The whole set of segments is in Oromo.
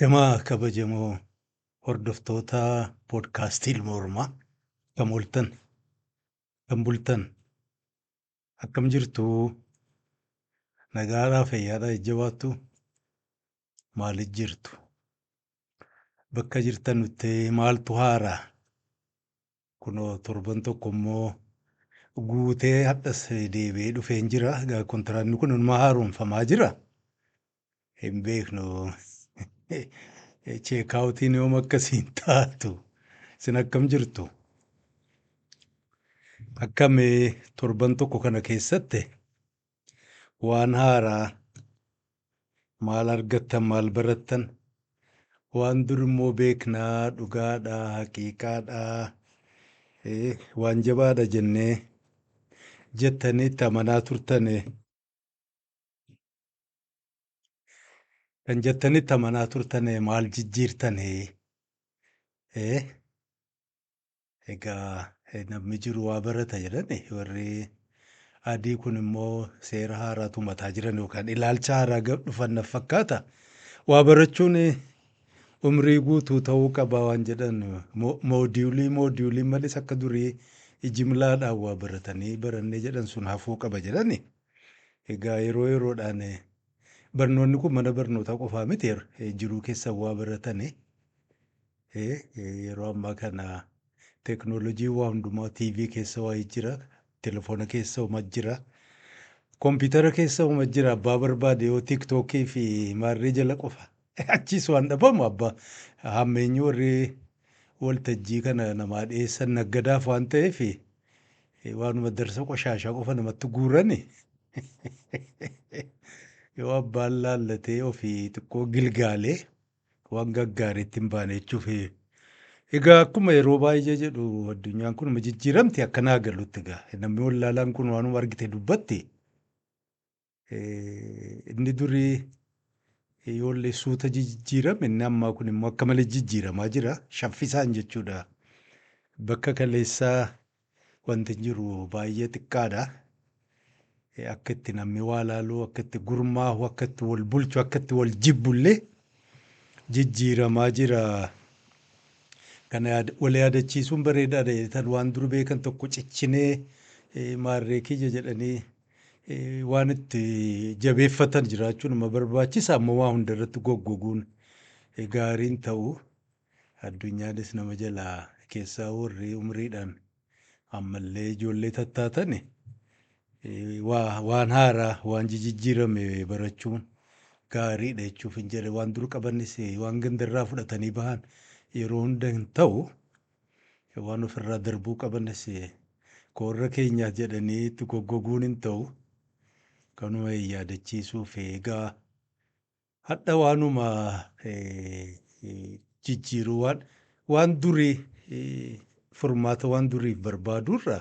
Jamaa kabajamoo hordoftoota podcast Ilma Oromaa akkam ooltan akkam bultan akkam jirtu nagaadhaa fayyaadhaa jajjabaattu maali jirtu bakka jirtanutti maaltu haaraa Kunoo torban tokko immoo guutee hadhas deebi'ee dhufeen jira. Egaa kontiraanni kun inumaa haaromfamaa jira. Hin beeknu cheekaawutiin yoom akkasiin taatu. Isin akkam jirtu? Akkam torban tokko kana keessatti waan haaraa Maal argattan maal barattan? Waan dur immoo beeknaa dhugaadha haqiiqaadha waan jabaadha jennee jettanii itti amanaa turtane kan jettanii itti amanaa turtane maal jijjiirtane? Egaa namni jiru waa barata jedhani warri adii kun immoo seera haaraa tumataa jiran yookaan ilaalcha haaraa gad dhufan naf fakkaata. Waa barachuun umrii guutuu ta'uu qaba waan jedhan mo- moodiyulii moodiyuliin malis akka durii jimlaadhaan waa baratanii barannee jedhan sun hafuu qaba jedhani. Egaa yeroo yeroodhaan eh, barnoonni kun mana barnootaa qofaa miti eh, jiruu keessan waa baratani Yeroo ammaa kana teknoolojiin waa hundumaa TV keessa waa jira, telefoona keessa uma jira, kompiitara keessa uma jira. Abbaa barbaade yoo tiktookii fi maarree jala qofa. Achiis waan dhabamu abbaa hammeenyi warri waltajjii kana namaa dhiyeessan naggadaaf waan ta'eef waanuma darsa qoshaashaa qofa namatti guurani. Yoo abbaan laallatee ofii xiqqoo gilgaalee Waan gaggaarii itti hin baane jechuufi. Egaa akkuma yeroo baay'ee jedhu addunyaan kun ma jijjiiramti akka naa galutti egaa namni wallaalaan kun waanuma argite dubbatti. Eh, Inni durii ijoollee suuta jijjiirame inni ammaa kun immoo akka malee jijjiiramaa jira. Shaffisaan jechuudha. Bakka kaleessaa Wanti jiru baay'ee xiqqaadha. Akka itti namni waa laalu, akka itti gurmaahu, akka itti wal bulchu, akka itti wal jibbu illee jijjiiramaa jira. Kana yaada- wal yaadachiisuun bareedaadha jedheetan waan dur beekan tokko cichinee eh, maarree kiyya jedhanii eh, waan itti jabeeffatan jiraachuun nama barbaachisa. Amma waa hundarratti goggoguun eh, gaariin ta'u. Addunyanis nama jalaa kessaa worri umriidhaan ammallee ijoollee tattaatani waa waan haaraa waan jijijjiirame barachuun gaariidha jechuufin jedha. Waan dur qabanis waan gandarraa fudhatanii bahan yeroo hunda hin ta'u. Waan ofirraa darbuu qabanis ka warra keenyaas jedhanii itti goggoguun hin ta'u. Kanuma yaadachiisuuf egaa Hadha waanuma jijjiiru waan waan durii furmaata waan duriif barbaaduurra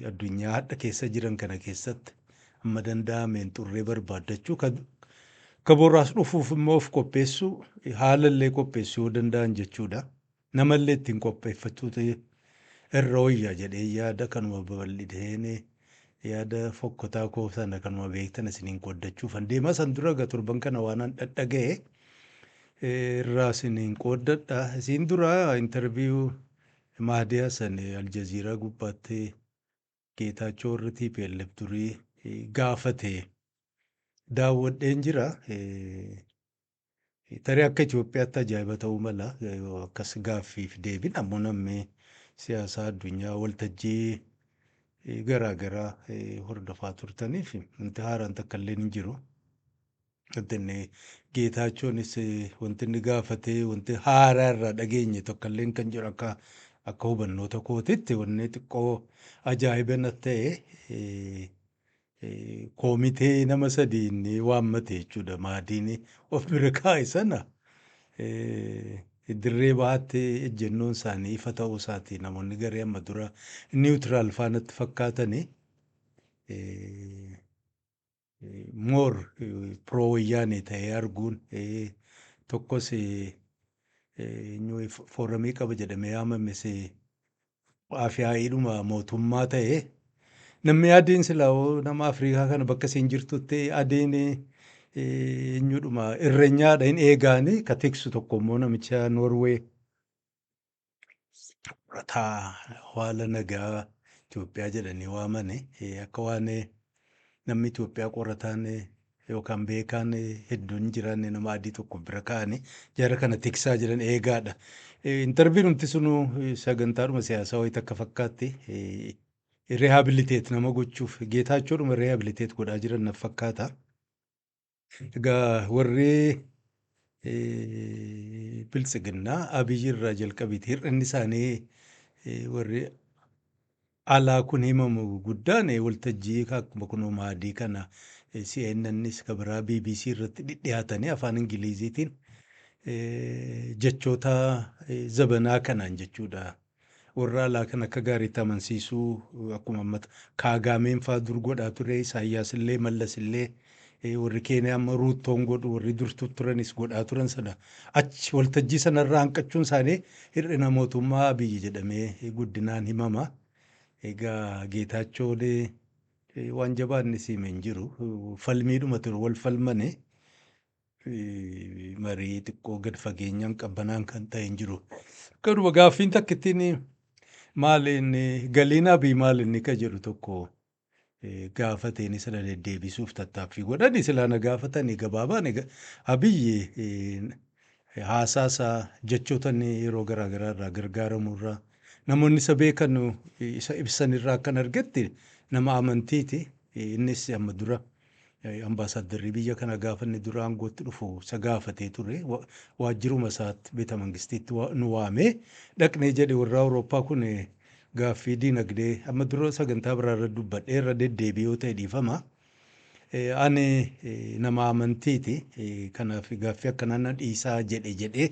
addunyaa hadha keessa jiran kana keessatti amma danda'ameen xurree barbaaddachuu ka boraas dhufuuf immoo of qopheessuu haala illee qopheessuu yoo danda'an jechuudha. Namallee ittiin qopheeffachuutu irra wayya jedheen yaada. Kanuma babal'iseen yaada fokkotaa koo sana kanuma beektan isiniin qooddachuufan deema. San dura egaa torban kana waanan dhaga'e irraa isiniin qooddadha. Isiin dura intarviyuu Mahdi Hasan Aljaziiraa gubbaatti Geetaachoo warri TPLF durii gaafate daawwadheen jira. Tarii akka Itoophiyaatti ajaa'iba ta'uu mala yoo akkas gaaffiif deebin ammoo namni siyaasaa addunyaa waltajjii garaa garaa hordofaa turtaniif wanti haaraan takka illee hin jiru. Wanti inni Geetaachoonis wanti inni gaafate wanti haaraa irraa dhageenye tokko illee kan jiru akka akka hubannoota kootitti wanni xiqqoo ajaa'iba na ta'e Koomitee nama sadii inni waammate jechuudha maadiin of bira kaa'e sana dirree bahaatti ejjennoon isaanii ifa ta'uu isaati namoonni garee amma dura niwutiraal faanatti fakkaatani moor piroo wayyaanee ta'ee arguun tokkos fooramii qaba jedhamee yaamames Afyaa'iidhuma mootummaa ta'e. Namni adeen silaa hoo nama Afrikaa kana bakka isiin jirtutti adeen eenyudhuma irrenyaadha hin eegaani ka tiksu tokko immoo namicha Norway rataa haala nagaa Itoophiyaa jedhanii waamani akka waan Namni Itoophiyaa qorataan yookaan beekaan hedduun hin jiraanne nama adii tokko bira kaa'ani jara kana tiksaa jiran eegaadha. Intarviinumti sunu sagantaadhuma siyaasaa wayita akka fakkaatti rehabiliteet nama gochuuf geetaachoodhuma rehabiliteet godhaa jiran naf fakkaata. Egaa warri biltsiginnaa Abiy irraa jalqabiti hir'inni isaanii warri alaa kun himamu guddaan waltajjii akkuma kunoo maadii kana CNNs ka biraa BBC irratti dhidhiyaatanii afaan Ingiliziitiin jechoota zabanaa kanaan jechuudha. Warra alaa kan akka gaariitti amansiisuu akkuma amma Kaagaameen faa dur godhaa ture, Isaayyaas illee, Mallas illee, warri Keeniyaa amma Ruuttoon godhu, warri dur tutturanis godhaa turan sana achi waltajjii sana irraa hanqachuun isaanii hir'ina mootummaa Abiyyi jedhamee guddinaan himama. Egaa Geetaachoon waan jabaa inni siime hin jiru. Falmiidhuma ture wal falmani. fi marii xiqqoo gad fageenyaan qabbanaan kan ta'e hin jiru. Garuma gaaffiin takkittiin maal inni galiin abii maal inni ka jedhu tokko eh, gaafateen sana deddeebisuuf tattaaffii godhani silaa na gaafatani gabaabaan ega- abiyyi eh, haasaa isaa jechoota inni yeroo garaa garaa irraa gargaaramu irraa namoonni isa beekan eh, isa ibsan irraa akkan argetti nama amantiiti Eh, innis amma dura Ambaasaaddarri biyya kanaa gaafa inni dura aangootti dhufu isa gaafatee ture. Waajjiruma isaatti Beetamangistiitti nu waamee dhaqnee jedhe warri Awurooppaa kun gaaffii dinagdee amma dura sagantaa biraa irra dubbadhee irra deddeebi'ee yoo ta'e dhiifama. Ani nama amantiiti kanaaf gaaffii akkanaa na dhiisaa jedhe jedhee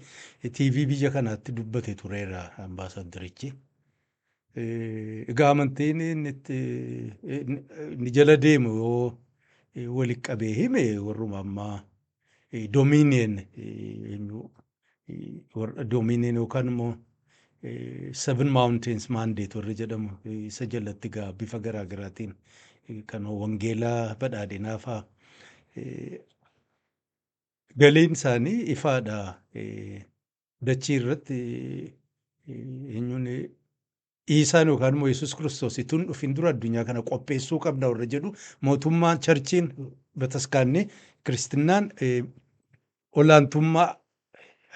TV biyya kanaatti dubbate tureera ambaasaaddarichi. Egaa amantiin inni itti inni jala deemu yoo walitti qabee hime warruma ammaa domiiniyeen eenyu warra domiiniyeen yookaan immoo seven mountains mandate warri jedhamu isa jalatti gaa bifa garaa garaatiin kan wangeelaa badhaadhinaa faa galiin isaanii ifaadha. Dachii irratti eenyuun Iisaan yookaan immoo Yesuus Kiristoos utuu hin dhufin dura addunyaa kana qopheessuu qabna warra jedhu mootummaan charchiin bataskaanni kiristinnaan eh, olaantummaa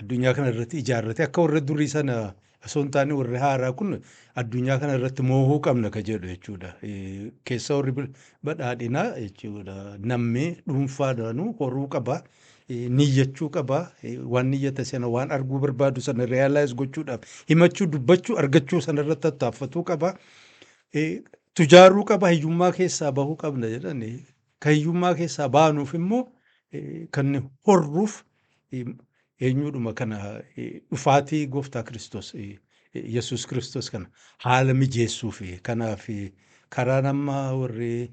addunyaa kana irratti ijaarrate akka warra durii sana osoo hin taane warri haaraa kun addunyaa kana irratti moohuu qabna ka jedhu jechuudha. Eh, Keessa warri bil- badhaadhinaa jechuudha namni dhuunfaadhaanuu horuu qaba. niyyachuu qaba. Waan niyyate sana waan arguu barbaadu sana realize gochuudhaaf himachuu, dubbachuu, argachuu sana irratti tattaaffatuu qaba. Tujaaruu qaba, hiyyummaa keessaa bahuu qabna jedhani. Kan hiyyummaa keessaa baanuuf immoo kan horruuf eenyuudhuma kana dhufaatii gooftaa Kiristoos Yesuus Kiristoos kana haala mijeessuuf kanaaf karaan amma warri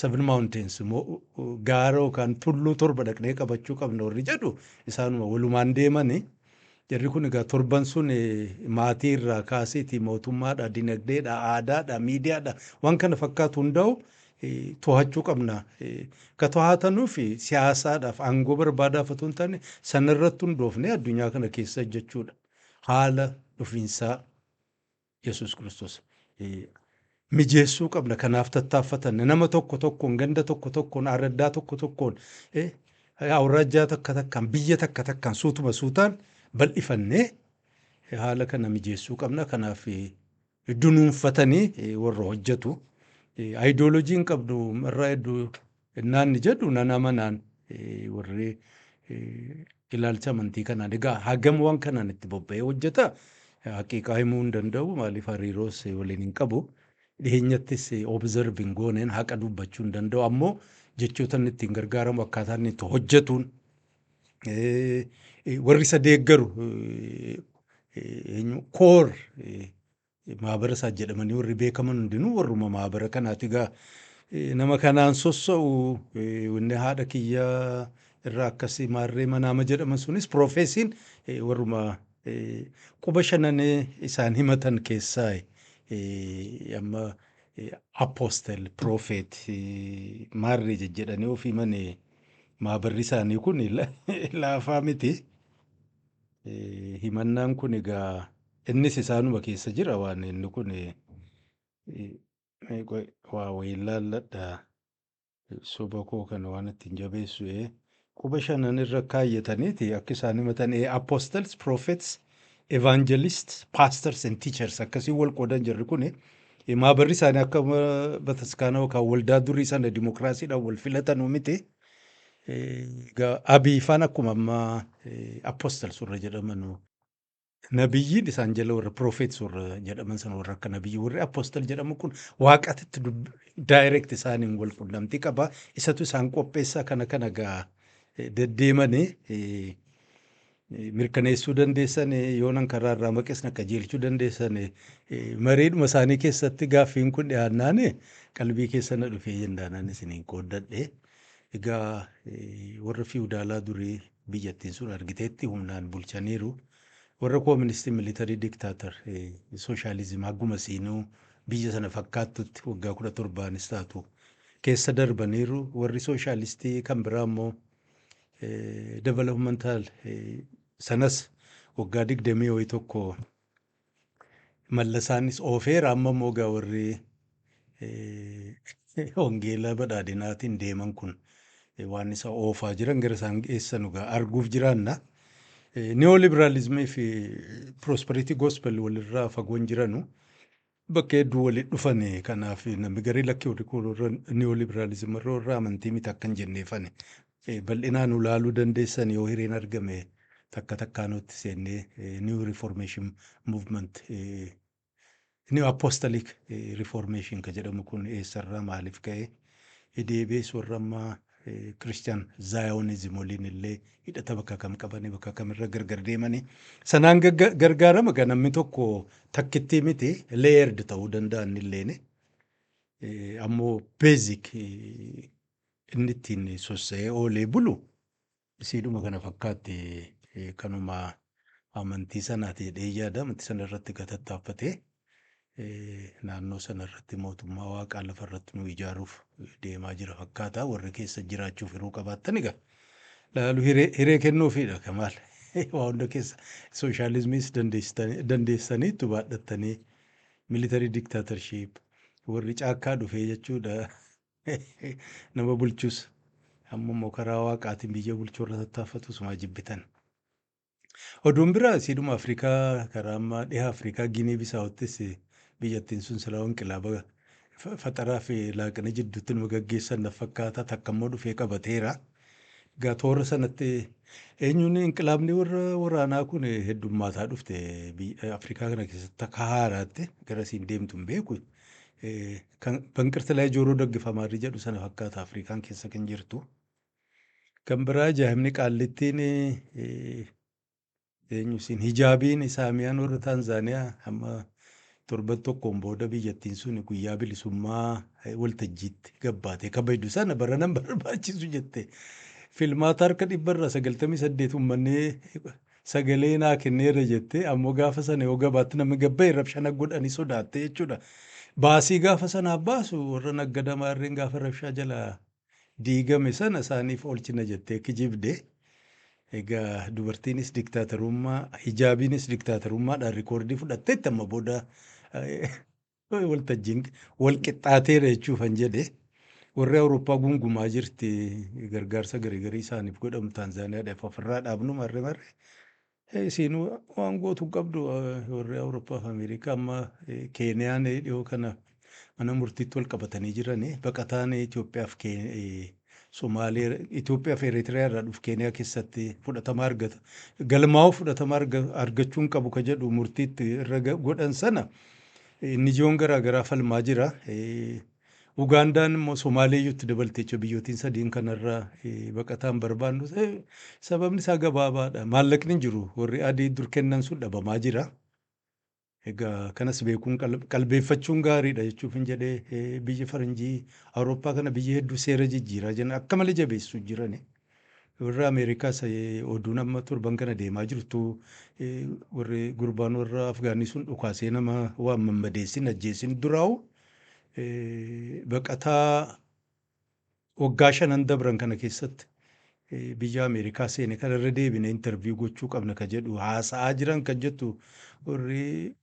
Seven Mountains immoo gaara yookaan tulluu torba dhaqnee qabachuu qabna warri jedhu isaanuma walumaan deemani. Jarri kun egaa torban sun maatii irraa kaasiiti mootummaadha, dinagdeedha, aadaadha, miidiyaadha waan kana fakkaatu hundaa'u to'achuu qabna. Ka to'atanuuf siyaasaadhaaf aangoo barbaadaaf otoo hin taane sanarratti hundoofnee addunyaa kana keessa hojjechuudha. Haala dhufiinsaa Yesuus Kiristoos mijeessuu qabna. Kanaaf tattaaffatanna. Nama tokko tokkoon, ganda tokko tokkoon, aaraddaa tokko tokkoon, awraajjaa takka takkaan, biyya takka takkaan suutuma suutaan bal'ifannee haala kana mijeessuu qabna. Kanaaf dunuunfatanii warra hojjetu. Ayidooloojiin qabnu irraa hedduu Ennaa inni jedhu nan amanaan warri ilaalcha amantii kanaan egaa hagam waan kanaan itti bobba'ee hojjeta haqiiqaa himuu hin danda'u maaliif hariiroos waliin hin qabu dhiheenyattis observe hin gooneen haqa dubbachuu hin danda'u ammoo jechoota inni ittiin gargaaramu akkaataa inni itti hojjetuun warri isa deeggaru eenyu koor Maabara isaa jedhamanii warri beekaman hundinuu warruma maabara kanaati egaa eh, nama kanaan sossa'u eh, wanni haadha kiyya irraa akkasii maarree manaama jedhaman sunis piroofeesiin eh, warruma eh, quba shananee isaan himatan keessaa eh, amma eh, apostel piroofeet eh, maarree jejjedhanii of himane maabarri isaanii kun la- laafaa miti. Himannaan kun egaa innis isaanuma keessa jira waan inni kun waa wayiin laalladha soba koo kana waan ittiin jabeessu ee quba shanan irra kaayyataniiti akka isaan himatan ee apostles prophets evangelists pastors and teachers akkasiin wal qoodan jirri kun maabarri isaanii akka bataskaana yookaan waldaa durii sana dimokiraasiidhaan wal filatanuu miti. Egaa abii faan akkuma amma apostles warra jedhamanu nabiyyiin isaan jala warra prophets warra jedhaman sana warra akka nabiyyi warri apostle jedhamu kun waaqatitti dub- direct isaaniin wal qunnamtii qaba isatu isaan qopheessaa kana kana gaa eh, deddeemanii eh, mirkaneessuu dandeessan, yoonan karaa irraa maqes na qajeelchuu dandeessan. Mariidhuma isaanii keessatti gaaffiin kun dhiyaannaan qalbii keessa na dhufee jennaanan isiniin qooddadhe. Egaa warra fiwudaalaa durii biyyattiin sun argiteetti humnaan bulchaniiru. Warra kooministii militarii diktaatar sooshaalizim hagguma siinuu biyya sana fakkaattutti waggaa kudha torbaanis taatu keessa darbaniiru. Warri sooshaalistii kan biraa immoo developmental sanas waggaa digdamii wayii tokko mallasaanis oofeera amma immoo gaa warri hongeelaa badhaadhinaatiin deeman kun waan isa oofaa jiran gara isaan geessanu gaa arguuf jiraanna. Neoliberalismii fi prosperity gospel walirraa fagoon jiranu bakka hedduu wali dhufani kanaaf namni garii lakki warri kun warra neoliberalism warra warra amantii miti akkan jenneefani bal'inaan ulaaluu dandeessan yoo hireen argame takka takkaanuutti seennee new reformation movement new apostolic reformation ka jedhamu kun eessarraa maaliif ka'e deebi'ees warra ammaa Christian Zionism waliin illee hidhata bakka kam qabanii bakka kamirra gargar deemanii sanaan gagga- gargaarama kan namni tokko takkittii miti layered ta'uu danda'a inni illeen ammoo basic inni ittiin sossa'ee oolee bulu isiidhuma kana fakkaatti kanuma amantii sanaati jedhee yaada amantii sana irratti gatattaaffatee naannoo sana irratti mootummaa waaqaa lafa irratti nu ijaaruuf deemaa jira fakkaata warri keessa jiraachuuf hiruu qabaattan egaa laalu hiree hiree kennuufiidha kamaal waa hunda keessa sooshaalizimiis dandeessitanii- dandeessanii itti baadhattanii militarii diktaatarship warri caakkaa dhufee jechuudha Nama bulchus amma immoo karaa waaqaatiin biyya bulchuu irra tattaaffatu sumaa jibbitan. Oduun biraa siidhuma Afrikaa karaa amma dhiha Afrikaa Giinii Bisaawottis biyyattiin sun silaa inqilaaba fa- faxaraa fi laaqina jidduutti nama gaggeessan na fakkaata takka immoo dhufee qabateera. Egaa toora sanatti eenyuun inqilaabni warra waraanaa kun heddummaataa dhufte biyya Afrikaa kana keessatti akka haaraatti gara siin deemtu hin beeku. Eh, Kan banqirti laa jooroo daggifamaarri jedhu sana fakkaata Afrikaan keessa kan jirtu. Kan biraa ajaa'ibni qaallittiin eh, Eenyu isin hijaabiin isaamiyaan warra Taanzaaniyaa amma torban tokkoon booda biyyattiin suni guyyaa bilisummaa waltajjiitti gabbaatee kabajdu sana baranan barbaachisu jette. Filmaata harka dhibba irraa sagaltamii saddeet uummanni sagalee naa kenneera jette ammoo gaafa sana yoo gabaatti namni gabba'e rabshana godhanii sodaatte jechuudha. Baasii gaafa sanaaf baasu warra naggada maarreen gaafa rabshaa jalaa diigame sana isaaniif oolchina jettee kijibde. Egaa dubartiinis diktaatarummaa, hijaabiinis diktaatarummaadhaan rikoordii fudhatteetti amma booda waltajjiin wal qixxaateera jechuufan jedhe. Warri Awurooppaa gungumaa jirti gargaarsa garigarii isaaniif godhamu Taanzaaniyaadhaaf ofirraa dhaabnu marre marre Ee isiin waan gootu hin qabdu warri Awurooppaa fi Ameerikaa amma Keeniyaan dhiyoo kana mana murtiitti wal qabatanii jiran baqataan Itoophiyaa fi Somaalee Itoophiyaa fi Eritiriyaa irraa dhufu Keeniyaa keessatti fudhatama argata galmaa'uu fudhatama argachuu hin qabu ka jedhu murtiitti irra godhan sana inni jiyoon garaa garaa falmaa jira Ugaandaan immoo Somaaleeyyuu itti dabalti jechuudha. Biyyootiin sadiin kanarraa baqataa hin barbaannu ta'e sababni isaa gabaabaadha. Maallaqni hin jiru. Warri adii dur kennan sun dhabamaa jira. Egaa kanas beekuun qalbeeffachuun gaariidha jechuuf hin jedhee biyyi faranjii Awurooppaa kana biyya hedduu seera jijjiiraa jiran akka malee jabeessu jirani. Warri Ameerikaa isa oduun amma torban kana deemaa jirtu warri gurbaan warra Afgaanii sun dhukaasee nama waan mammadeessin ajjeesin duraawu baqataa waggaa shanan dabran kana keessatti biyya Ameerikaa seene kana irra deebine intarviyu gochuu qabna ka jedhu haasa'aa jiran kan jettu warri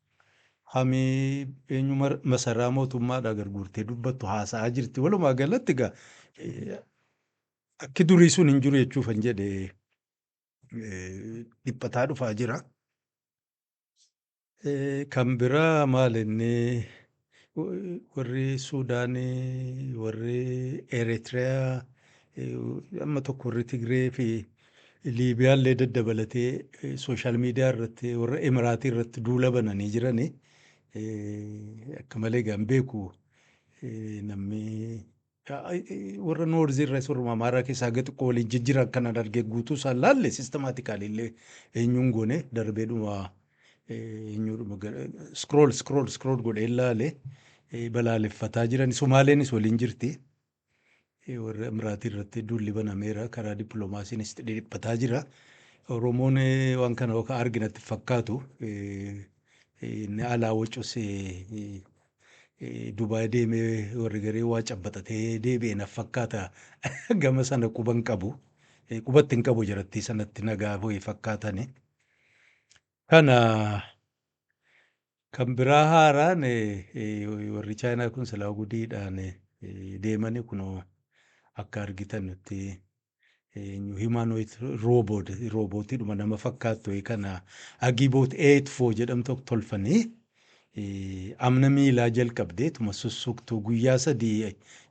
hamii eenyu masaraa mootummaadha garguurtee dubbattu haasa'aa jirti walumaa galatti gaa Akki durii sun hin jiru jechuufan jedhe dhiphataa dhufaa jira. Kan biraa maal inni warri Suudaan, warri Eritreyaa, amma tokko warri Tigree fi Liibiyaa illee daddabalatee sooshaal miidiyaa irratti warra Emiraatii irratti duula bananii jirani. Akka malee egaa hin beeku namni warra North irras warra Amaaraa keessaa haga xiqqoo waliin jijjiran kanan argee guutuu isaan laalle systematically illee eenyuun goone darbeedhuma eenyuudhuma scroll scroll scroll godhee laale balaaleffataa jiran Somaaleenis waliin jirti. warra Imiraatii irratti duulli banameera karaa dippiloomaasiinis dhidhiphataa jira. Oromoon waan kana akka arginatti fakkaatu inni alaa wacus Dubai deeme warri garee waa cabbaxatee deebi'e naf fakkaata gama sana quba hin qabu. Qubatti hin qabu jarattii sanatti nagaa ho'i fakkaatani. Kana kan biraa haaraan warri chaayinaa kun silaa gudiidhaan deemani kunoo akka argitanutti eenyu humanoid robot robootidhuma nama fakkaattu wayii kana agiboot eetfoo jedhamtu tolfanii eh, amna miilaa jalqabdee tuma sussuktuu guyyaa sadii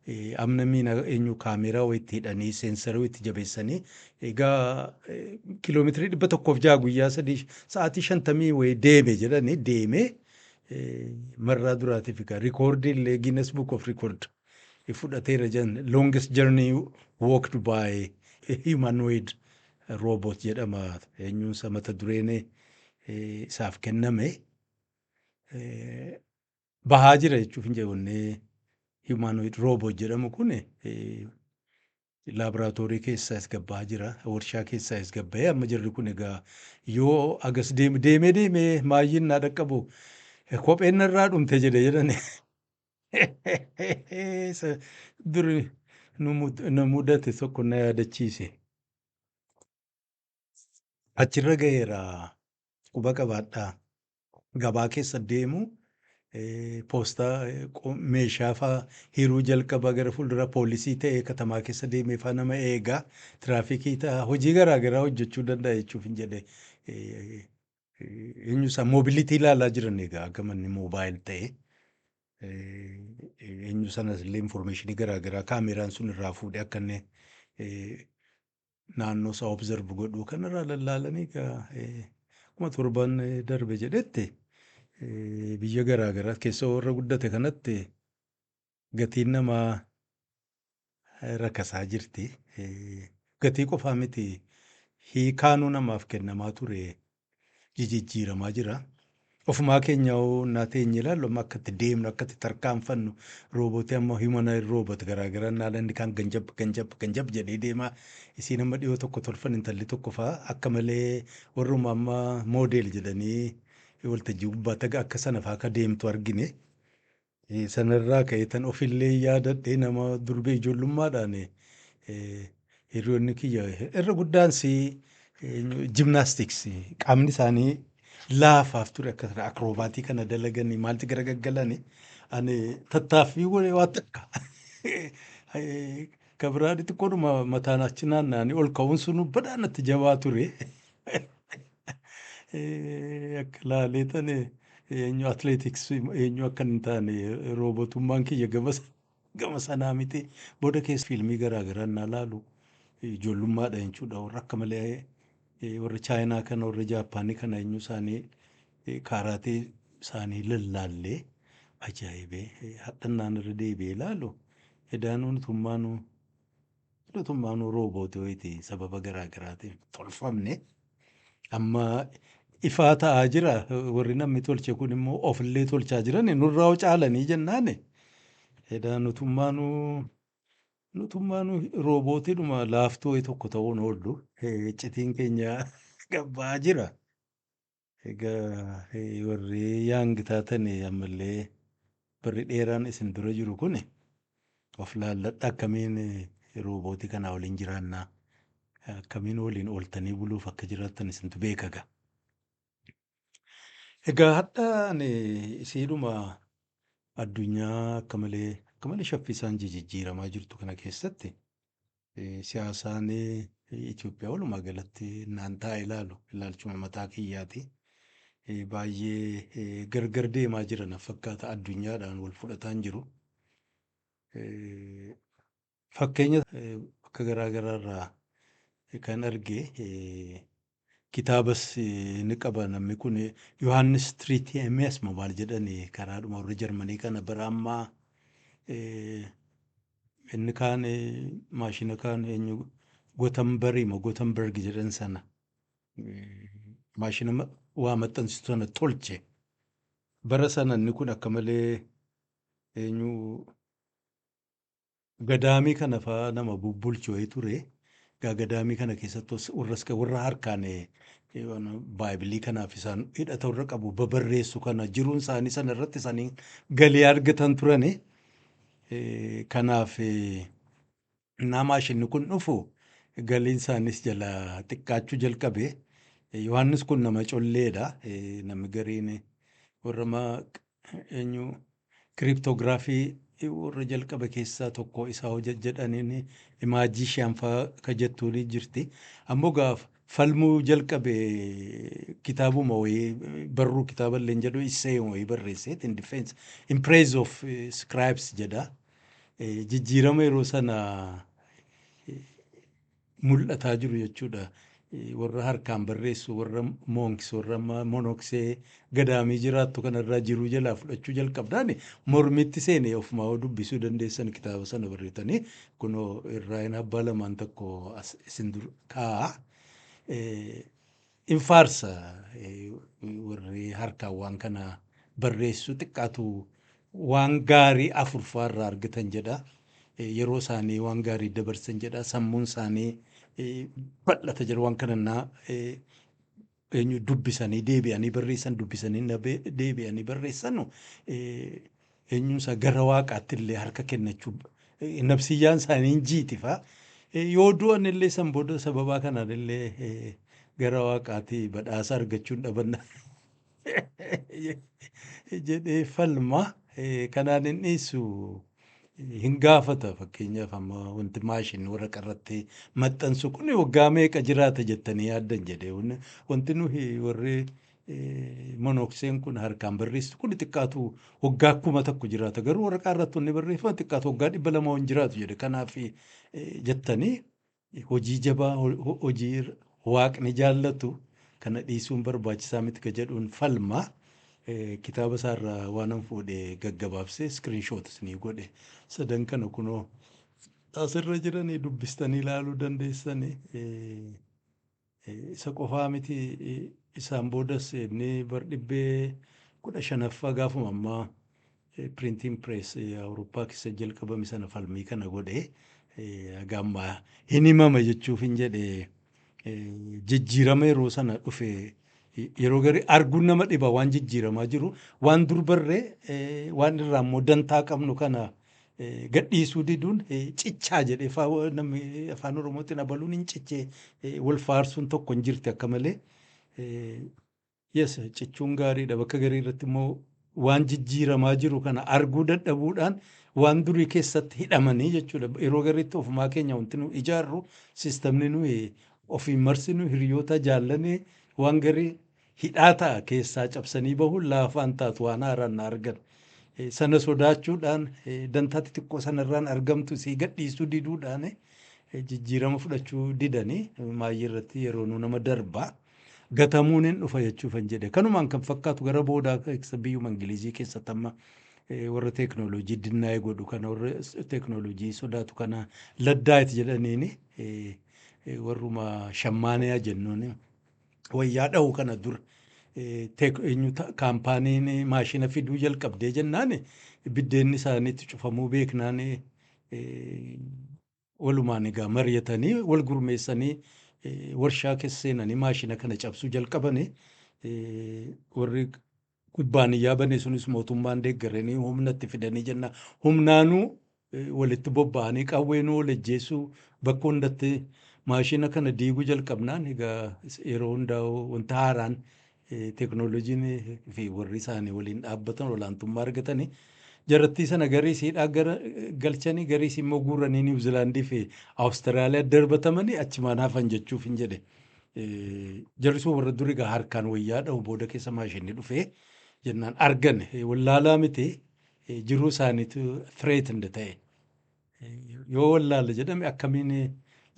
eh, amna miina eenyu kaameeraa wayitti hidhanii seensarii wayitti jabeessanii egaa eh, kiiloomeetirii dhibba tokkoof jaha guyyaa sadii sa'aatii shantamii wayii deeme jedhanii deemee eh, marraa duraatiif egaa rikoordii illee Guinness Book of Record fudhateera jedhan longest journey walked by a humanoid robot jedhama eenyuunsa mata dureen isaaf kenname bahaa jira jechuuf hin jedhu humanoid robot jedhamu kun Laaboraatoorii keessaas gad bahaa jira. Warshaa keessaas gad bahee amma jarri kun egaa yoo agas deeme deemee deemee maayyiin naa dhaqqabu kopheen narraa dhumte jedhe jedhan. Isa duri nu mud- na mudate tokko na yaadachiise. Achirra gaheera quba qabaadhaa. Gabaa keessa deemu poostaa meeshaa faa hiruu jalqabaa gara fuuldura poolisii ta'ee katamaa keessa deemee faa nama eegaa tiraafikii ta'a hojii garaa garaa hojjechuu danda'a jechuuf hin jedhe eenyu isaa moobilitii ilaalaa jiran egaa akka manni moobaayil ta'e eenyu sanas illee informeeshinii garaa garaa kaameeraan sun irraa fuudhee akka inni naannoo isaa observe godhuu kanarraa lallaalanii egaa eh, akkuma torban eh, darbe jedhetti eh, biyya garaa garaa keessa warra guddate kanatti gatiin namaa eh, rakasaa jirti. Eh, Gatii qofaa miti hiikaanuu namaaf kennamaa ture jijijjiiramaa jira. Ofumaa keenya hoo naa teenye ilaallu amma akka itti deemnu akka itti tarkaanfannu roobootii amma humanoid robot garaagaraa naala inni kaan ganjab ganjab ganjab jedhee deemaa isiin amma dhiyoo tokko tolfan intalli tokko fa'aa akka malee warruma amma moodeel jedhanii waltajjii gubbaa taga akka sana fa'aa akka deemtu argine Sanarraa ka'eetan ofillee yaadadhe nama durbee ijoollummaadhaan hiriyoonni kiyya irra guddaan si jimnaastiks qaamni isaanii laafaaf ture akka sana akroobaatii kana dalaganii maalti gara gaggalanii ani tattaaffii godhe waan takka ka biraa xixiqqoodhuma mataan achi naanna'anii ol ka'uun sunu badhaanatti jabaa ture. Eh, akka laalee tane eenyu atleetiks eenyu akka hin taane roobotummaan kiyya gama sa- gama sanaa miti booda keessa fiilmii garaa garaa naa laalu ijoollummaadha jechuudha warra akka malee eh, warra chaayinaa kana warra jaappaanii kana eenyu isaanii eh, kaaraatee isaanii lallaallee ajaa'ibee eh, hadhannaan irra deebi'ee laalu edaanuu nutummaanuu Mootummaan Roobootii wayiti sababa garaa garaatiin tolfamne amma ifaa ta'aa jira. Warri namni tolche kun immoo ofillee tolchaa jirani nurraa hoo caalanii jennaani. Edaa nutummaanuu nutummaanuu roobootiidhuma laaftuu wayii tokko ta'uun oollu. Iccitiin keenya gad ba'aa jira. Egaa warri young taatan ammallee barri dheeraan isin dura jiru kun of laalladhaa akkamiin roobootii kanaa waliin jiraannaa akkamiin waliin ooltanii buluuf akka jiraattan isintu beeka egaa. Egaa hadha ani isiidhuma addunyaa akka malee akka malee shaffisaan jijijjiiramaa jirtu kana keessatti Siyaasaan Itoophiyaa walumaa galatti naan taa'e ilaalu ilaalchuma mataa kiyyaati. Baay'ee gargar deemaa jira na fakkaata addunyaadhaan wal fudhataan jiru. Fakkeenya bakka garaa garaa irraa kan arge Kitaabas ni qaba namni kun Yohaannis Tritiemias moo maal jedhani karaadhuma warra Jarmanii kana bara ammaa inni kaan maashina kaan eenyu Gotambarii moo Gotamberg jedhan sana maashina ma- waa maxxansitu sana tolche. Bara sana inni kun akka malee eenyu Gadaamii kana fa nama bubbulchu wayii ture. Egaa gadaamii kana keessatti warras warra harkaan baaybilii kanaaf isaan hidhata warra qabu babarreessu kana jiruun isaanii sana irratti isaanii galii argatan turani. Kanaaf naa maashinni kun dhufu galiin isaanis jala xiqqaachuu jalqabe. Yohaannis kun nama colleedha. Namni gariin warra eenyu Kiriptoogiraafii warra jalqabe keessaa tokko isa hoja jedhaniin imaajishiyan faa ka jettuun jirti. Ammoo gaaf falmuu jalqabe kitaabuma wayii barruu kitaaballeen jedhu isseeyuma wayii barreesseet in defense in praise of scribes jedha. Jijjiirama yeroo sana mul'ataa jiru jechuudha. Warra harkaan barreessu, warra moonks, warra monoksee gadaamii jiraattu kanarraa jiruu jalaa fudhachuu jalqabnaan mormitti seene ofumaa yoo dubbisuu dandeessan kitaaba sana barreetanii kunoo irraayin abbaa lamaan tokko as isin dur kaa'a. In faarsa warri harkaan waan kana barreessu xiqqaatu waan gaarii afur faa irraa argatan jedha. Yeroo isaanii waan gaarii dabarsan jedha. Sammuun isaanii bal'ata jedha waan kana na eenyu dubbisanii deebi'anii barreessan dubbisanii na deebi'anii barreessanu eenyuun isaa gara waaqaatti illee harka kennachuu nabsiyyaan isaanii hin jiiti fa'a. Eh, Yoo du'an illee san booda sababaa kanaan illee eh, gara waaqaatti badhaasa argachuun dhabanna jedhee falma. Eh, Kanaan hin dhiisu hin gaafata fakkeenyaaf amma wanti maashin waraqaa irratti maxxansu kun waggaa meeqa jiraata jettanii yaaddan jedhee wanti nuyi warri Monookseen kun harkaan barreessitu kun xiqqaatu waggaa kuma tokko jiraata. Garuu waraqaa irratti wanni barreeffama xiqqaatu waggaa dhibba lama hin jiraatu jedhe. Kanaaf jettanii hojii jabaa hojii waaqni jaallatu kana dhiisuun barbaachisaa miti ka jedhuun falma. Kitaaba isaarraa waanan fuudhe gaggabaabsee iskiriinshoot isinii godhe. Sadan kana kunoo asirra jiranii dubbistanii ilaaluu dandeessanii. Isa qofaa miti isaan boodas inni bar dhibbee kudha shanaffaa gaafuma ammaa printing press Awurooppaa keessa jalqabame sana falmii kana godhe haga ammaa hin himama jechuuf hin jedhe jijjiirama yeroo sana dhufe yeroo gari arguun nama dhiba waan jijjiiramaa jiru waan dur barree waan irraa immoo dantaa qabnu kana gadhiisuu diduun cichaa jedhe fa- namni afaan oromootiin abaluun hin cichee eh, wal faarsuun tokko hin jirti akka malee Eh, yes cichuun gaariidha bakka garii irratti immoo waan jijjiiramaa jiru kana arguu dadhabuudhaan waan durii keessatti hidhamanii jechuudha yeroo gariitti ofumaa keenya wanti nu ijaarru sistamni nuyi ofiin marsinu hiriyoota jaallanee waan garii hidhaa ta'a keessaa cabsanii bahuun laafaa hin taatu waan haaraan na argan sana sodaachuudhaan dantaa xixiqqoo sana irraan argamtu sii gadhiisuu diduudhaan jijjiirama fudhachuu didanii maayyii irratti yeroo nu nama darbaa gatamuun hin dhufa jechuuf hin jedhe kanumaan kan fakkaatu gara boodaa keessa biyyuma ingilizii keessatti amma warra teeknooloojii dinnaa'ee godhu kana warra teeknooloojii sodaatu kana laddaayit jedhaniini warruma shammaaniyaa jennuuni. wayyaa dhahu kana dura teek eenyu ta'a kaampaaniin maashina fiduu jalqabdee jennaan biddeenni isaaniitti cufamuu beeknaan walumaan egaa mari'atanii wal gurmeessanii warshaa keessa seenanii maashina kana cabsuu jalqabanii warri kubbaaniyyaa bane sunis mootummaan deeggaranii humna itti fidanii jenna humnaanuu walitti bobba'anii qawweenuu wal ajjeessuu bakka hundatti maashina kana diiguu jalqabnaan egaa yeroo hundaa wanta haaraan teeknooloojiin fi warri isaanii waliin dhaabbatan olaantummaa argatanii jarattii sana garii siidhaa gara galchanii garii immoo guuranii Niwuzilaandii fi Awustiraaliyaa darbatamanii achumaan hafan jechuuf hin jedhe. Jarri sun warra duri egaa harkaan wayyaa dhahu booda keessa maashinni dhufee jennaan argan wallaalaa miti jiruu isaaniitu threatened ta'e. Yoo wallaala jedhame akkamiin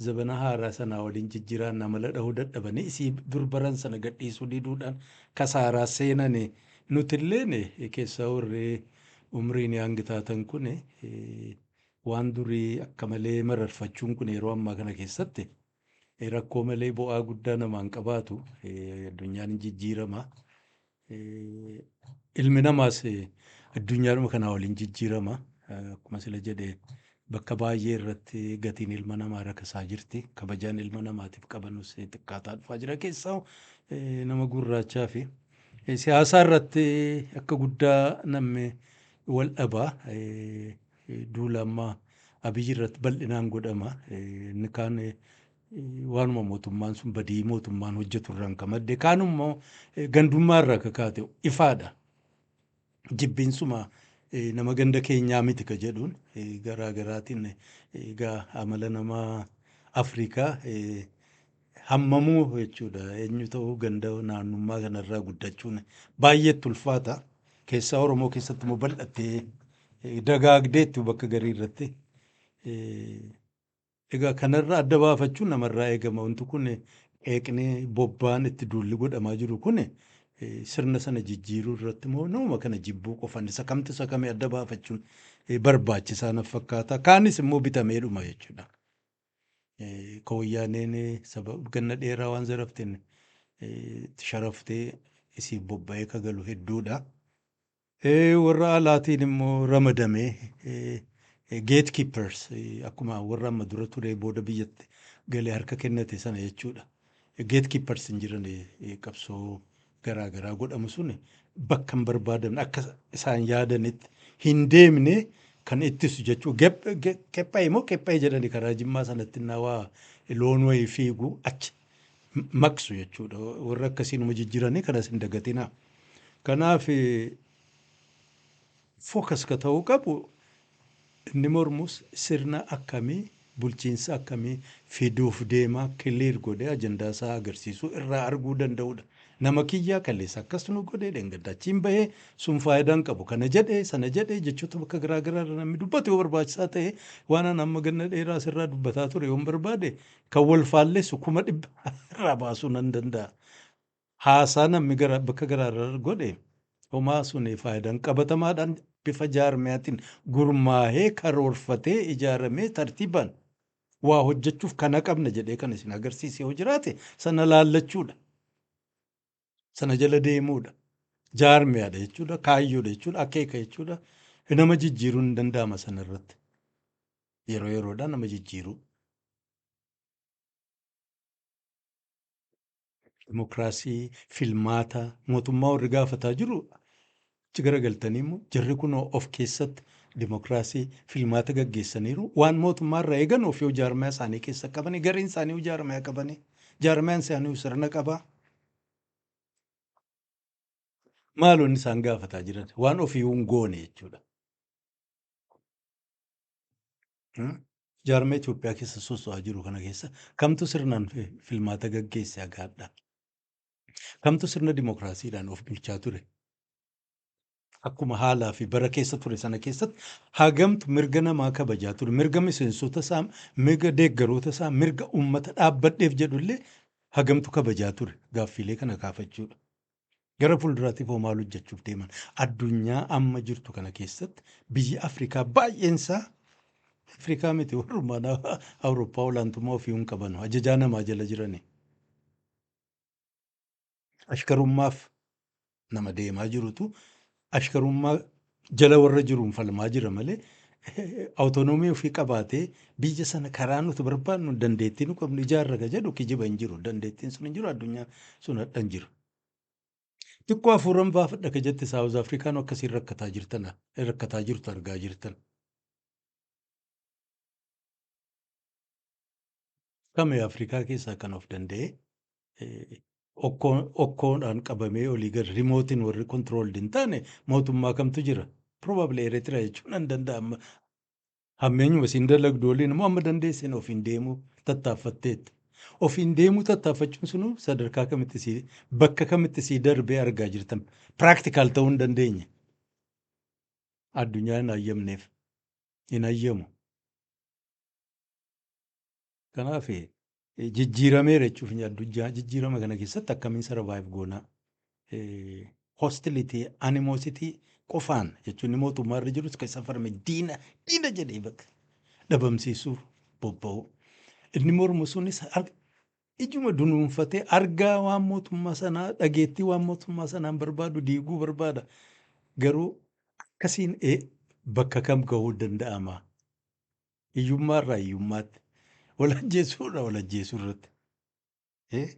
zabana haaraa sanaa waliin jijjiiraan amala dhahuu dadhabanii isii dur baran sana gadhiisuu diduudhaan kasaaraa seenan nutilleen keessaa warri umriin yaangi taatan kun waan durii akka malee mararfachuun kun yeroo ammaa kana keessatti Rakkoo malee bu'aa guddaa namaan qabaatu. Addunyaan hin jijjiirama. Ilmi namaas addunyaadhuma kanaa waliin jijjiirama. Akkuma sila jedhe bakka baay'ee irratti gatiin ilma namaa rakasaa jirti. Kabajaan ilma namaatiif qabanus xiqqaataa dhufaa jira. Keessaa nama gurraachaa fi siyaasaa irratti akka guddaa namni wal dhabaa. Duula amma Abiy irratti bal'inaan godhama. Inni kaan waanuma mootummaan sun badii mootummaan hojjetu irraan ka madde kaan immoo gandummaa irraa ka kaate ifaadha. Jibbiinsuma nama ganda keenyaa miti ka jedhuun garaa garaatiin egaa amala nama Afrikaa hammamuu jechuudha. Eenyu ta'uu ganda naannummaa kanarraa guddachuun baay'eetti ulfaata. Keessaa Oromoo keessatti immoo bal'attee eh, dagaagdeetti bakka garii irratti. Eh, Egaa kanarraa adda baafachuun namarraa eegama. Wanti kun qeeqni bobbaan itti duulli godhamaa jiru kun eh, sirna sana jijjiiruu irratti immoo nama kana jibbuu qofan isa kamtu isa kami adda baafachuun eh, barbaachisaa naf fakkaata. Kaanis immoo bitameedhuma jechuudha. Ka woyyaaneen saba ganna dheeraa waan zaraften itti sharaftee isiif bobba'ee ka galu hedduudha. Warra alaatiin immoo ramadamee gate keepers akkuma warra amma dura turee booda biyyatti galee harka kennate sana jechuudha. Gate keepers hin jiran qabsoo garaa garaa godhamu sun bakka hin barbaadamne akka isaan yaadanitti hin deemne kan ittisu jechuu qephaa'e moo qephaa'e jedhani karaa jimmaa sanatti innaa waa loon wayii fiigu achi maqsu jechuudha warra akkasii numa jijjiranii kanas hin dagatinaa kanaaf focus ka ta'uu qabu Inni mormus sirna akkamii, bulchiinsa akkamii fiduuf deema clear godhee ajandaa isaa agarsiisuu irraa arguu danda'uudha. Nama kiyyaa kaleessa akkas nu godhe, dheengadda achiin bahe, sun faayidaa hin qabu, kana jedhe, sana jedhe jechoota bakka garaa garaa irra namni dubbatu yoo barbaachisaa ta'e, waan an amma ganna dheeraa asirraa dubbataa ture yoon barbaade kan wal faallessu kuma dhibba irraa baasuu nan danda'a. Haasaa namni gara bakka garaa irra godhe homaa suni faayidan qabatamaadhaan bifa jaarmiyaatiin gurmaahee karoorfatee ijaaramee tartiibaan waa hojjechuuf kana qabna jedhee kan isin agarsiise yoo jiraate sana laallachuudha. Sana jala deemuudha. Jaarmiyaadha jechuudha. Kaayyoodha jechuudha. Akeeka jechuudha. Nama jijjiiruun hin danda'ama sana irratti. Yeroo yeroodhaan nama jijjiiruu. Dimokiraasii, filmaata, mootummaa warri gaafataa jiru itti garagaltanii immoo jarri kunoo of keessatti dimokiraasii, filmaata gaggeessaniiru. Waan mootummaa irraa eegan ofii hojii jaarmayaa isaanii keessa qabanii gariin isaanii hojii jaarmayaa qabanii jaarmayaan isaanii sirna qabaa. Maaloonni isaan gaafataa jiran waan ofii hin goone jechuudha. Jaarmee Itoophiyaa keessa soso'aa jiru kana keessa kamtu sirnaan fi- filmaata gaggeesse hagaadha? Kamtu sirna dimookiraasiidhaan of bulchaa ture? Akkuma haalaa fi bara keessa ture sana keessatti hagamtu mirga namaa kabajaa ture? Mirga miseensota isaa, mirga deeggaroota isaa, mirga uummata dhaabbadheef jedhu illee hagamtu kabajaa ture? Gaaffiilee kana kaafachuudha. Gara fuulduraatiif hoo maal hojjechuuf deeman? Addunyaa amma jirtu kana keessatti biyyi Afrikaa baay'een isaa Afrikaa miti warrummaan Awurooppaa olaantummaa ofii hin qabanu. Ajajaa namaa jala jirani. Ashkarummaaf nama deemaa jirutu ashkarummaa jala warra jiruun falmaa jira malee awutonoomii ofii qabaatee biyya sana karaa nuti barbaadnu dandeettii nu qabnu ijaarra ka jedhu kijiba hin jiru. Dandeettiin sun hin jiru addunyaa sun hadha hin jiru. Xiqqoo hafuuran baafadha ka jette Saawuz Afrikaan akkasiin rakkataa jirtan rakkataa jirtu argaa jirtan. kame Afrikaa keessaa kan of danda'e eh, okkoo- okkoodhaan qabamee olii gad rimootiin warri controlled hin taane mootummaa kamtu jira. Probably Eritrea jechuun nan danda'a amma hammeenyuma isin dalagdu waliin immoo amma dandeessin ofiin deemuu tattaaffatteetta. Ofiin deemuu tattaaffachuun sunuu sadarkaa kamitti si bakka kamitti si darbee argaa jirtan practical ta'uu hin dandeenye. Addunyaa hin hayyamneef hin hayyamu. Kanaaf jijjiirameera jechuuf hin addunyaa jijjiirama kana keessatti akkamiin sarvaayiv goonaa hostilitii animoositii qofaan jechuun mootummaa irra jirus kan isa farme diina diina jedhee bakka dhabamsiisuu bobba'u. Inni mormu sunis ar- ijuma dunuunfatee argaa waan mootummaa sanaa dhageettii waan mootummaa sanaan barbaadu diiguu barbaada. Garuu akkasiin ee, bakka kam gahuu danda'ama? Hiyyummaa irraa hiyyummaatti. Wal ajjeesuu irraa wal ajjeesuu irratti. Eh?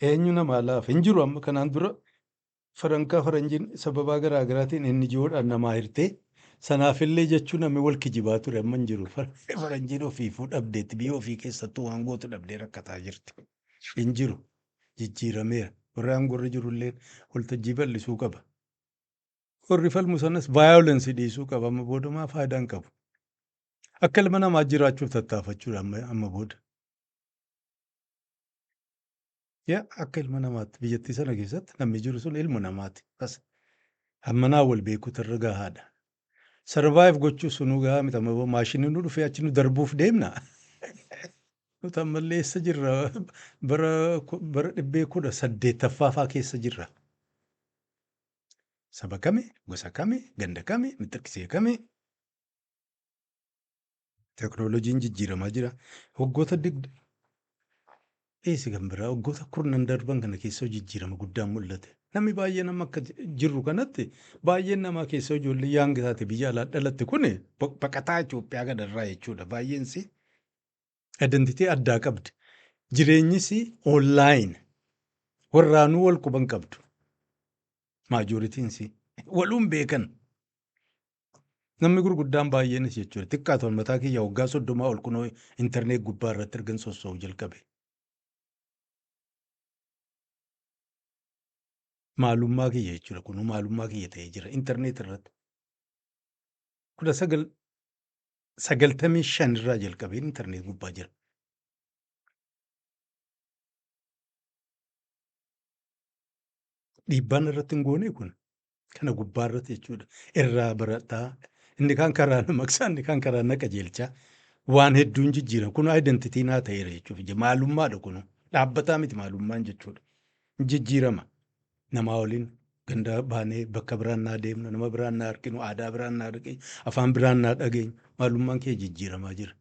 Eenyu namaa laafa? Hin jiru amma kanaan dura farankaa faranjiin sababaa garaa garaatiin inni ji'oodhaan namaa hirtee sanaafillee jechuu namni wal kijibaa ture amma hin jiru. Far- Faranjiin ofiifuu dhabdeetti biyya ofii keessattuu waan gootu dhabdee rakkataa jirti. Hin jiru. Jijjiirameera. Warri aangorra jirullee waltajjii bal'isuu qaba. Warri falmu sanas violence dhiisuu qaba. Amma booda maa faayidaa hin qabu. Akka ilma namaa jiraachuuf tattaafachuudha amma, amma booda. Yaa akka ilma namaatti biyyattii sana keessatti namni jiru sun ilma namaati. Bas amma naa wal beekuutu irra gahaadha. Survive gochuu sunuu gahaa miti amma booda maashiniin nu dhufee achi nu darbuuf deemna. Nuti ammallee eessa jirra? Bara ku- bara dhibbee kudha saddeettaffaa faa keessa jirra. Saba kami, gosa kami, ganda kami, mixxirkisee kami? Teknooloojiin jijjiiramaa jira. Waggoota dig dhiisi kan biraa waggoota kurnan darban kana keessoo jijjiirama guddaan mul'ate. Namni baay'een amma akka ji- jirru kanatti baay'een namaa keessoo ijoollee yaangi taate biyya alaa dhalatte kun baqataa Itoophiyaa kanarraa jechuudha. Baay'een si Identity addaa qabdi. Jireenyis online. Warraanuu wal quban qabdu. Maajoritiinsi. Waluun beekan. Namni gurguddaan baay'eenis jechuudha. Xiqqaa ta'u mataa kiyya waggaa soddomaa ol kunoo intarneet gubbaa irratti ergan sossoo'u jalqabe. Maalummaa kiyya jechuudha. Kunuu maalummaa kiyya ta'ee jira intarneet irratti. Kudha sagal sagaltamii shan irraa jalqabee intarneet gubbaa jira. Dhiibbaan irratti hin goone kun kana gubbaa irratti jechuudha. Irraa barataa inni kaan karaa na maqsaa inni kaan karaa na qajeelchaa waan hedduun jijjiira. Kun identitii naa ta'eera jechuuf maalummaadha kun dhaabbataa miti maalummaan jechuudha. Jijjiirama. Namaa waliin ganda baanee bakka biraan naa deemnu, nama biraan naa arginu, aadaa biraan naa dhageenyu, afaan biraan naa dhageenyu maalummaan keenya jijjiiramaa jira.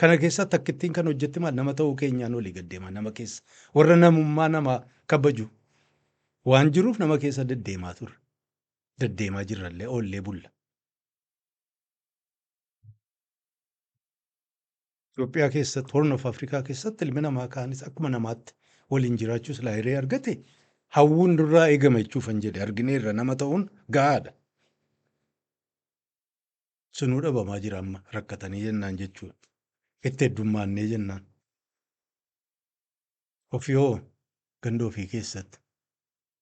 Kana keessaa takkittiin kan hojjette maal nama ta'uu keenyaan olii gad deemaa nama keessa warra namummaa namaa kabaju waan jiruuf nama keessa deddeemaa turre. Deddeemaa jirrallee oollee bulla. Itoophiyaa keessatti Horn of Afrikaa keessatti ilmi namaa kaanis akkuma namaatti waliin jiraachuu silaa hiree argate hawwuun nurraa eegama jechuufan jedhe argineerra nama ta'uun ga'aadha. Sunuu dhabamaa jira amma rakkatanii jennaan jechuudha. Itti heddummaannee jennaan. Ofii hoo ganda ofii keessatti.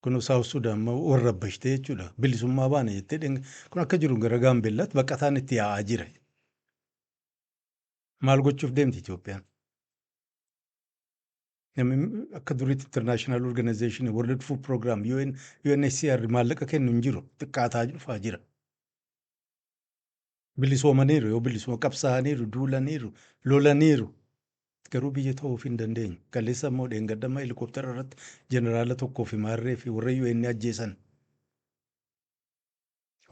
Kun Saawus Sudaan ma warra abbashtee jechuudha. Bilisummaa baana jettee dhenga. Kun akka jiru gara Gaambeellaatti baqataan itti yaa'aa jira. Maal gochuuf deemti Itoophiyaan? Namni akka duriitti international organization, world food program, UN, UNHCR maallaqa kennu hin jiru. Xiqqaataa dhufaa jira. Bilisoomaniiru yoo bilisuma qabsaa'aniiru, duulaniiru, lolaniiru. Garuu biyya ta'uuf hin dandeenye. Kaleessa immoo dheengadhamma helikooftara irratti jeneraala tokkoo fi maarree fi warra UN ajjeesan.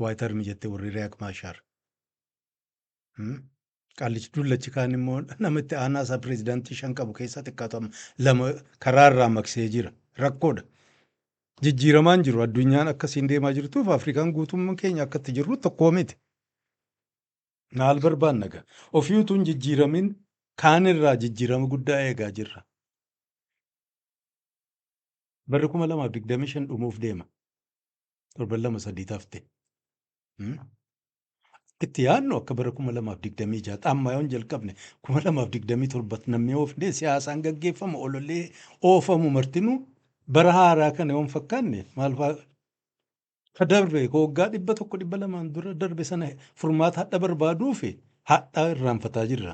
Waayit Armi jettee warri Riyaak Maashaar. Qaallichi dullachi kaan immoo nama itti aanaa isaa pireezidaantii shan qabu keessaa xiqqaatu amma lama karaa irraa maqsee jira. Rakkoodha. Jijjiiramaan jiru addunyaan akkasiin deemaa jirtuuf Afrikaan guutummaan keenya akka itti jirru tokkoo miti. Maal barbaanna gaa? Ofii utuu hin jijjiiramin kaan irraa jijjiirama guddaa eegaa jirra. Barri kuma lamaaf digdamii shan dhumuuf deema. Torban lama sadii taafte. Itti yaadnu akka bara 2026 tti amma yoon jalqabne 2027 tti namni yoo fedhe siyaasaan gaggeeffamu ololee oofamu martinuu bara haaraa kana yoon fakkaanne maal faa ka darbe ka waggaa dhibba tokko dhibba lamaan dura darbe sana furmaata hadha barbaaduu fi hadha irraanfataa jirra.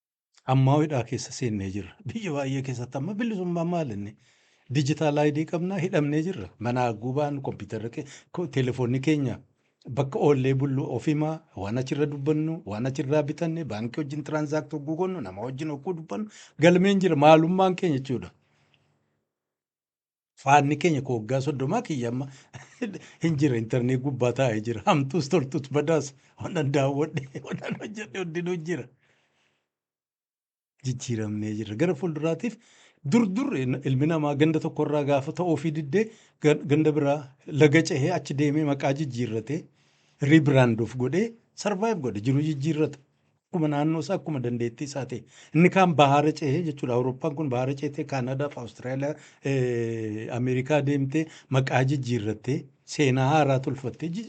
Ammaa hidhaa keessa seennee jirra. Biyya baay'ee keessatti amma bilisummaa maal inni? Dijitaal ayidii qabnaa hidhamnee jirra. Manaa gubaan kompiitarri ke- ko- telefoonni keenya bakka oollee bullu ofimaa waan achirra dubbannu waan achirraa bitanne baankii wajjin tiraanzaaktii hogguu goonu nama wajjin hogguu dubbannu galmeen jira maalummaan keenya jechuudha. Faanni keenya koo waggaa soddomaa kiyya amma hin jira intarneet gubbaa taa'ee jira. Hamtuus toltuus badaas wannan daawwadhe wannan hojjedhe hundinuu jira. Jijjiiramnee jirra. Gara fuulduraatiif dur dur ilmi namaa ganda tokkorraa gaafa ta'uufii diddee ga- ganda biraa laga cehee achi deemee maqaa jijjiirratee riibiraanduuf godhee sarvaayiv godhe jiruu jijjiirrata. Akkuma naannoo isaa akkuma dandeettii isaa ta'e. Inni kaan bahaara cehee jechuudha. Awurooppaan kun bahaara ceetee Kaanaadaaf Awustiraaliyaa eh, Ameerikaa deemtee maqaa jijjiirrattee seenaa haaraa tolfattee ji-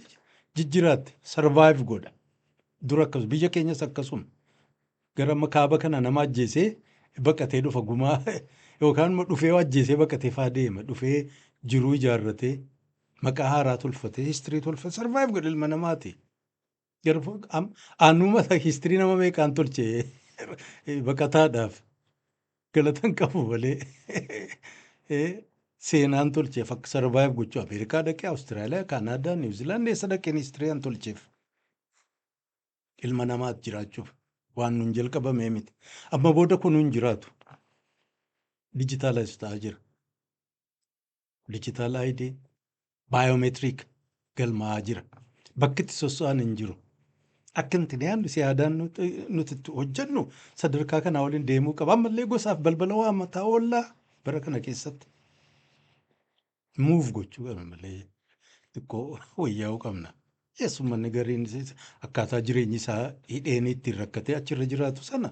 jijjiraatte sarvaayiv godha. Dura akkas biyya keenyas akkasuma. gara amma kaaba kana nama ajjeesee baqatee dhufa gumaa yookaan immoo dhufee ajjeesee baqatee faa deema dhufee jiruu ijaarratee maqaa haaraa tolfatee histirii tolfatee sarvaayiv godhe ilma namaati. Garuu am- anuma histirii nama meeqaan tolche baqataadhaaf galatan qabu malee Eh, seenaan tolcheef akka sarvaayiv gochuu Ameerikaa dhaqee Awustiraaliyaa, Kaanaadaa, Niwuziilaand eessa dhaqeen histiriin tolcheef ilma namaat jiraachuuf waan nun jalqabamee miti. Amma booda kun hin jiraatu. Dijitaalaayiz ta'aa jira. Digital ID, Biometric galmaa'aa jira. Bakki itti sosso'an hin jiru. Akka nuti yaadnu si aadaan nuti nuti itti hojjennu sadarkaa kanaa waliin deemuu qaba. Ammallee gosaaf balbala waa mataa oollaa bara kana keessatti muuf gochuu qabna malee xiqqoo wayyaa'uu qabna. Yes, uummanni gariin is- akkaataa jireenyi isaa hidheen ittiin rakkatee achirra jiraatu sana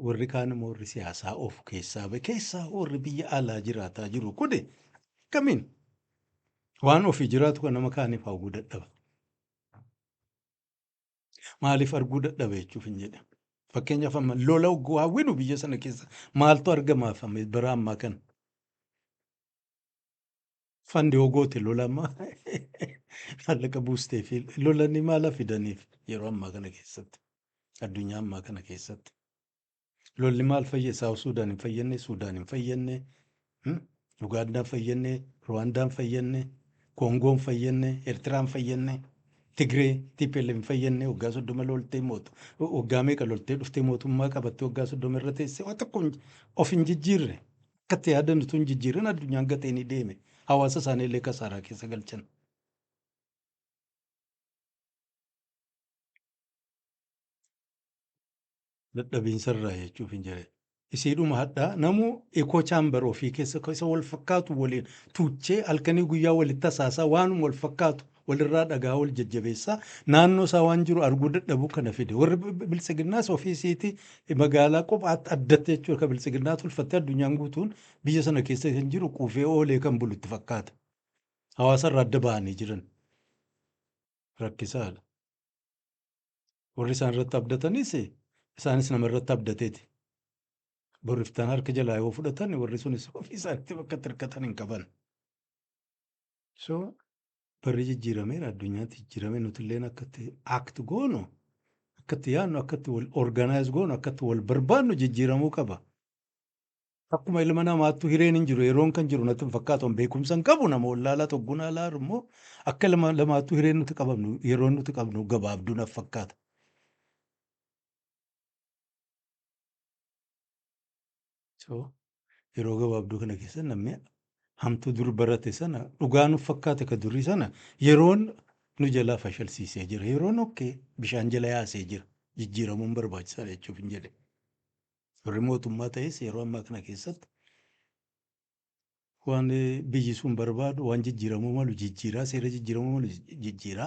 Warri kaan immoo warri siyaasaa of keessaa ba'e keessaa warri biyya alaa jiraataa jiru kun akkamiin waan ofii jiraatu kan nama kaaniif hawwuu dadhaba. Maaliif arguu dadhaba jechuuf hin jedhe. Fakkeenyaaf amma lola hogguu hawwinu biyya sana keessa maaltu argamaaf amma bara ammaa kana? Fandi hoo goote lola amma maallaqa buustee fi lolanii maala fidaniif yeroo ammaa kana keessatti addunyaa ammaa kana keessatti lolli maal fayyee Saawuf Suudaan hin fayyannee Suudaan hin fayyannee hmm? Ugaandaan fayyannee Ruwaandaan fayyannee Koongoon fayyannee Eertiraan fayyannee Tigree TPLF hin fayyannee waggaa soddoma loltee mootu waggaa meeqa loltee dhuftee mootummaa qabattee waggaa soddoma irra teessee waan tokko hin- of hin jijjiirre Akka itti yaadan utuu hin jijjiirin addunyaan gatee ni deeme. Hawaasa isaanii illee kasaaraa keessa galchan. Dadhabiinsa irraa jechuuf hin jedhe. Isiidhuma hadhaa namuu ekoo chaambar ofii keessa isa wal fakkaatu waliin tuuchee halkanii guyyaa walitti hasaasaa waanuma wal fakkaatu walirraa dhagaa wal jajjabeessaa naannoo isaa waan jiru arguu dadhabuu kana fide warri biltsiginnaas ofii isiiti magaalaa qophaatti addatti jechuudha kan biltsiginnaa tolfattee addunyaan guutuun biyya sana keessa kan jiru quufee oolee kan bulu itti fakkaata hawaasa irraa adda bahanii jiran rakkisaadha warri isaan irratti abdatanis isaanis nama irratti abdateeti borriftaan harka jalaa yoo fudhatan warri sunis ofii isaanitti bakka itti hirkatan hin qaban. So Barri jijjiirameera, addunyaatti jijjiirame, nutilleen akkatti act goonu, akkatti yaadnu, akkatti wal organize goonu, akkatti wal barbaadnu jijjiiramuu qaba. Akkuma ilma namaattu hireen hin jiru, yeroon kan jiru natti hin fakkaatu, an beekumsa hin qabu, nama wallaalaa togguna alaa immoo akka ilma namaattu hireen nuti qabnu, yeroon nuti qabnu gabaabduu naf fakkaata. So yeroo gabaabduu kana keessa namni hamtuu dur barate sana dhugaa nuuf fakkaate ka durii sana yeroon nu jalaa fashalsiisee jira. Yeroon okkee bishaan jala yaasee jira. Jijjiiramuun barbaachisaadha jechuuf hin jedhe. Warri mootummaa ta'es yeroo ammaa kana keessatti Waan biyyi sun barbaadu, waan jijjiiramuu malu jijjiira, seera jijjiiramuu malu jijjiira,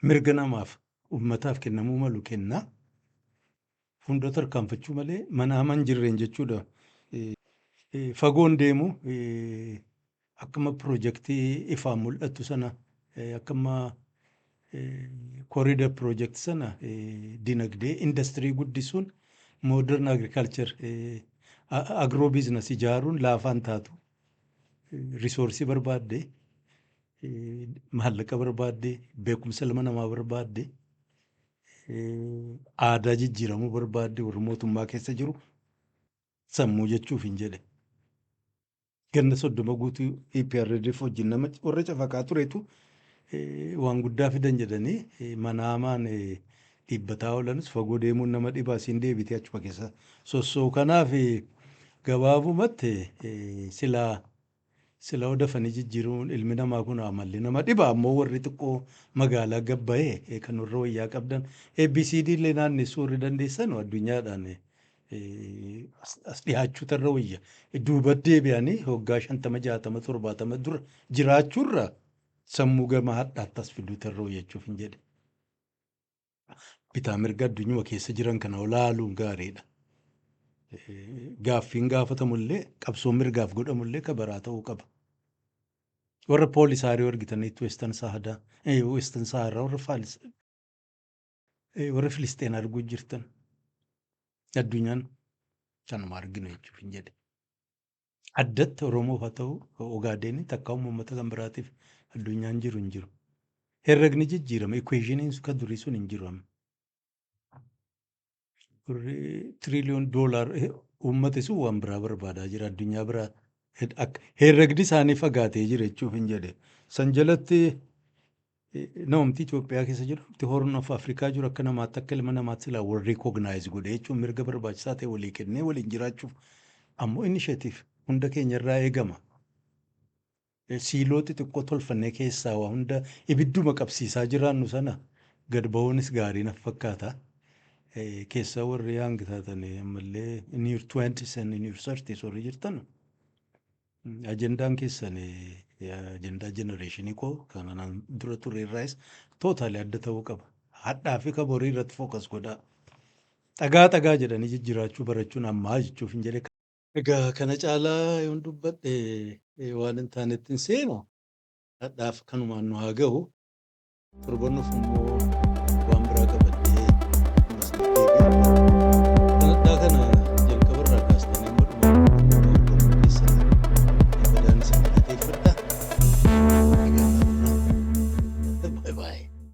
mirga namaaf, uummataaf kennamuu malu kenna. Fuuldura tarkaanfachuu malee mana hama hin jirreen jechuudha. Fagoon deemu akkuma pirojektii ifaan mul'attu sana akkuma Corridor project sana dinagdee industry guddisuun modern agriculture agro business ijaaruun laafaa hin taatu. Resource barbaadde, maallaqa barbaadde, beekumsa ilma namaa barbaadde, aadaa jijjiiramuu barbaadde warri mootummaa keessa jiru sammuu jechuuf hin jedhe. ganna soddoma guutuu EPRDF wajjin nama warra cafaqaa turetu eh, waan guddaa fidan jedhanii eh, manaamaan eh, dhiibbataa oolanis fagoo deemuun nama dhibaa siin deebitee achuma keessa sossoo kanaaf eh, gabaabumatti eh, silaa sila odafanii jijjiiruun ilmi namaa kun amalli nama dhiba ammoo warri xiqqoo magaalaa gabbayee eh, kan warra wayyaa qabdan ABCD illee naannessuu warri dandeessan addunyaadhaan eh, as dhihaachuutu irra wayya. Duuba deebi'anii hoggaa shantama jaatama torbaatama dura jiraachuurra sammuu gama hadhaatti as fiduutu irra wayya jechuuf hin jedhe. Bitaa mirga addunyuma keessa jiran kana olaaluun gaariidha. Gaaffiin gaafatamullee qabsoon mirgaaf godhamullee ka baraa ta'uu qaba. Warra poolisaariyoo argitaniitti weestan saahadaa weestan saaharaa warra faalis Ee warri Filisxeen arguu jirtan addunyaan kanuma arginu jechuuf hin jedhe. Addatti Oromoof haa ta'u Ogaadeenii takka uummata kan biraatiif addunyaan jiru hin jiru. Herregni jijjiirama equationin ka durii sun hin jiru amma. Warri tiriiliyoon doolaar uummati sun waan biraa barbaadaa jira addunyaa biraa herregdi isaanii fagaatee jira jechuuf hin jedhe. San jalatti Namumti Itoophiyaa keessa jiru, namumti Horn of Afrikaa jiru akka namaatti akka ilma namaatti silaa wal recognize godhee jechuun mirga barbaachisaa ta'e walii kennee waliin jiraachuuf ammoo initiative hunda keenyarraa eegama. Siiloo xixiqqoo tolfannee keessaa waa hunda ibidduma qabsiisaa jiraannu sana gad ba'uunis gaarii naf fakkaata. Keessaa warri hanga taatan ammallee in your twenties and in your thirties warri jirtan Ajendaan keessan ajendaa generation koo kan anaan dura ture irraayis totally adda ta'uu qaba. Hadhaa fi ka borii irratti focus godhaa. Dhagaa dhagaa jedhanii jijjiraachuu barachuun ammaa jechuuf hin jedhe. Egaa kana caalaa yoon dubbadhe eh, waan hin taanetti hin seenu. Hadhaaf kanumaan nu haa gahu. Torban dhufu immoo waan biraa qabattee ammas ni deebi'u. Sagantaa kana jalqaba irraa kaastanii amma dhumaatti hordofuu keessan badaan isin galateeffadha. Bye bye.